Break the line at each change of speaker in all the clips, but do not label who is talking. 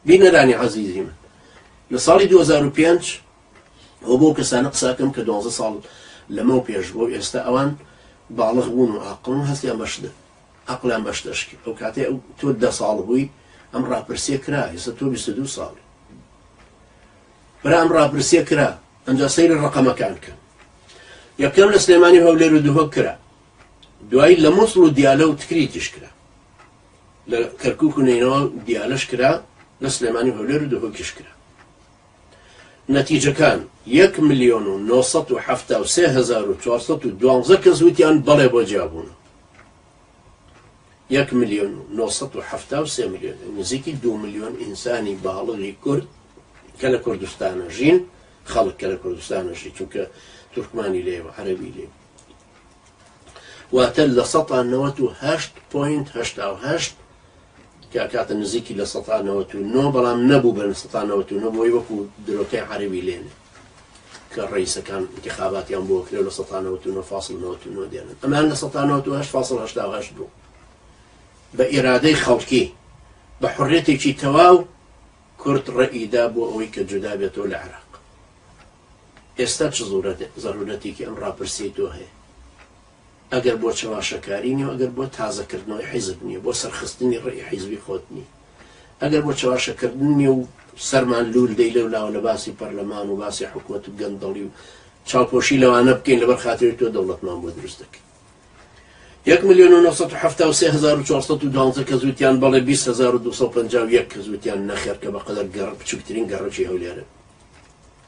بینەرانی عەزیزی من لە ساڵی دوو هەزار و پێنج ئەوە بەو کەسانە قساکەم کە دوازدە ساڵ لەمەو پێش بۆ ئێستا ئەوان باڵغ بوون و ئاقڵن هەستیان بەشدە ئەقلیان بەشدەشکی ئەو کاتێ ئەو تۆ دە ساڵ بووی ئەم ڕاپرسیە کرا ئێستا تۆ بیست دوو ساڵ برام ڕاپرسیە کرا ئەنجا سەیرە ڕقەمەکان کە یەکەم لە سلێمانی هەولێر و دووهۆک کرا دوایی لە مۆسڵ و دیالە و تکریتیش کرا لە کەرکوک و نەینەوا و دیالەش کرا لە سلێمانی و هەولێر و دهۆکیش کرا نەتیجەکان یەک ملیۆن و نۆ سەد و حەفتا و سێ هەزار و چوار سەد و دوانزە کەس وتیان بەڵێ بۆ جیابوون یەک ملیۆن و نۆ سەد و حەفتا و سێ ملیۆن نزیکی دوو ملیۆن ئینسانی باڵغی کورد کە لە کوردستانە ژین خەڵک کە لە کوردستانە ژی چونکە تورکمانی لێ و عەرەبی لێ واتە لە سەتا نەوەت و هەشت پۆینت هەشتا و هەشت کە ئەکاتە نزیکی لە سەتا نەوەت و نۆ بەڵام نەبوو بە سەتا نەوەت و نۆ بۆی وەکو درۆکەی عەرەبی لێنێ کە ڕئیسەکان انتخاباتیان بۆ کرێ لە سەتا نەوەت و نۆ فاصل نەوەت و نۆ دێنن ئەمان لە سەتا نەوەت و هەشت فاصل هەشتا و هەشت بوو بە ئیرادەی خەڵکی بە حڕێتێکی تەواو کورد ڕئیدا بۆ ئەوەی کە جودا بێتەوە لە عێراق ئێستا چ زەرورەتێکی ئەم ڕاپرسیەی تۆ هەیە؟ ئەگەر بۆ چەواشەکاری نیەو ئەگەر بۆ تازە کردنەوەی حیزب نیە بۆ سەرخستنی ڕێی حیزبی خۆت نیە؟ ئەگەر بۆ چەواشە کردن نیە و سەرمان لول دەی لەو لاوە لە باسی پەرلەمان و باسی حکومەت و گەندەڵی و چاوپۆشی لەوانە بکەین لەبەر خاتری تۆ دەوڵەتمان بۆ دروست دەکەین؟ یەک ملیۆن و نۆ سەد و حەفتا و سێ هەزار و چوار سەد و دوانزە کەس وتیان بەڵێ بیست هەزار و دوو سەد و پەنجا و یەک کەس وتیان نەخێر کە بەقەدەر گەڕ بچوکترین گەڕەکی هەولێرن.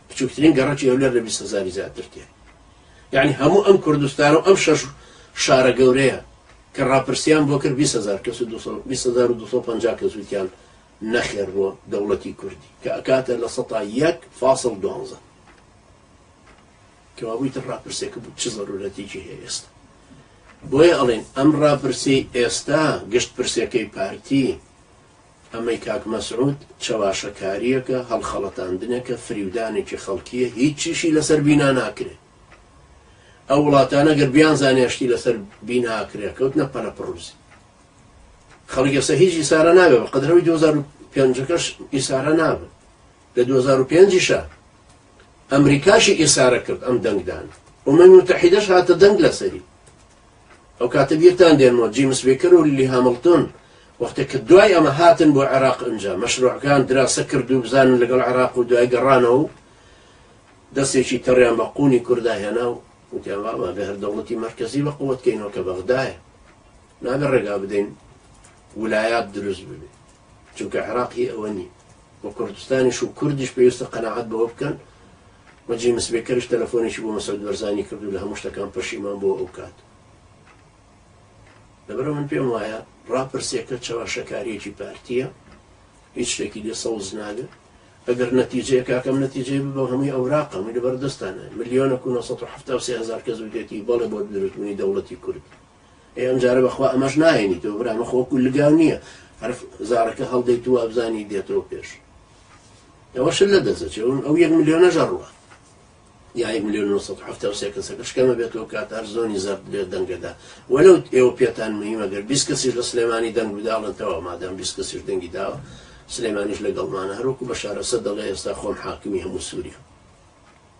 بچوکترین گەڕەکی هەولێر لە بیست هەزاری زیاتر تێ یعنی هەموو ئەم کوردستان و ئەم شەش شارە گەورەیە کە ڕاپرسیان بۆ کرد 20هزار کەس 2250 کەس وتیان نەخێر بۆ دەوڵەتی کوردی کە ئەکاتە لە سەتا یەک فاصل دوانزە کەوابووی تر ڕاپرسێکە بوو چ زەرورەتێکی هەیە ئێستا بۆیە ئەڵێن ئەم ڕاپرسی ئێستا گشت پرسەکەی پارتی ئەمەی کاک مەسعود چەواشەکاریەکە هەڵخەڵەتاندنێکە فریودانێکی خەڵکیە هیچیشی لەسەر بینا ناکرێ ئەو وڵاتانە گەر بیانزانێ شتی لەسەر بینا ئەکرێ کەوتنە پەلە پڕوزی خەڵک ئێستا هیچ ئیسارە نابێ بە قەدرەوەی 2005ەکەش ئیسارە نابن لە 2005شە ئەمریکاشی ئیسارە کرد ئەم دەنگدان ومە متحیدەش هاتە دەنگ لەسەری ئەو کاتە بیرتان دێنمەوە جیمس بێکەر و لیلی هامڵتۆن وەختێک کە دوای ئەمە هاتن بۆ عێراق ئنجا مەشروعەکان دراسە کرد و بزانن لەگەڵ عێراق و دوای گەڕانەوە و دەستێکی تەڕیان بە قوونی کوردا هێنا و وتیان واما بێ هەر دەوڵەتی مەرکەزی بە قووەت کەینەوە کە بەغدایە نابێ ڕێگا بدەین ولایات دروست ببێ چونکە عێراقی ئەوە نی و کوردستانیش و کوردیش پێویستە قەناعەت بەوە بکەن و جیمس بێکەریش تەلەفۆنێکی بۆ مەسعود بەرزانی کرد و لە هەموو شتەکان پەشیمان بۆ ئەو کات لەبەرە من پێم وایە ڕاپرسێکە چەواشەکاریەکی پارتیە هیچ شتێکی دێ سەوز نابێت ئەگەر نەتیجەیە کاکەم نەتیجەی بۆ هەمووی ئەوراقە من لەبەر دەستانە ملیۆنە کو 1970 هزار کەس بدێتی بەڵێ بۆ دروستبوونی دەوڵەتی کورد ئێ ئەم جارە بەخوا ئەمەش ناهێنیتەوە برا مەخۆ وەکو لگاو نییە هەر زارەکە هەڵدەیت و ئەبزانی دێتەوە پێش ئەوە شل لە دەزەچێ ئەو یەک ملیۆنە ژەڕوە یا یەک ملیۆن 1970 کەسەکە شکەمە بێتەوە کات هەر زۆنی زەرد بێت دەنگەدا وەلو ئێوە پێتان مهمە گەر 20 کەسیش لە سلێمانی دەنگ بداڵن تەوا مادەم 20 کەسیش دەنگی داوە سلێمانیش لەگەڵمانە هەروکو بە شارەسە دەڵێ ئێستا خۆم حاکمی هەموو سووریە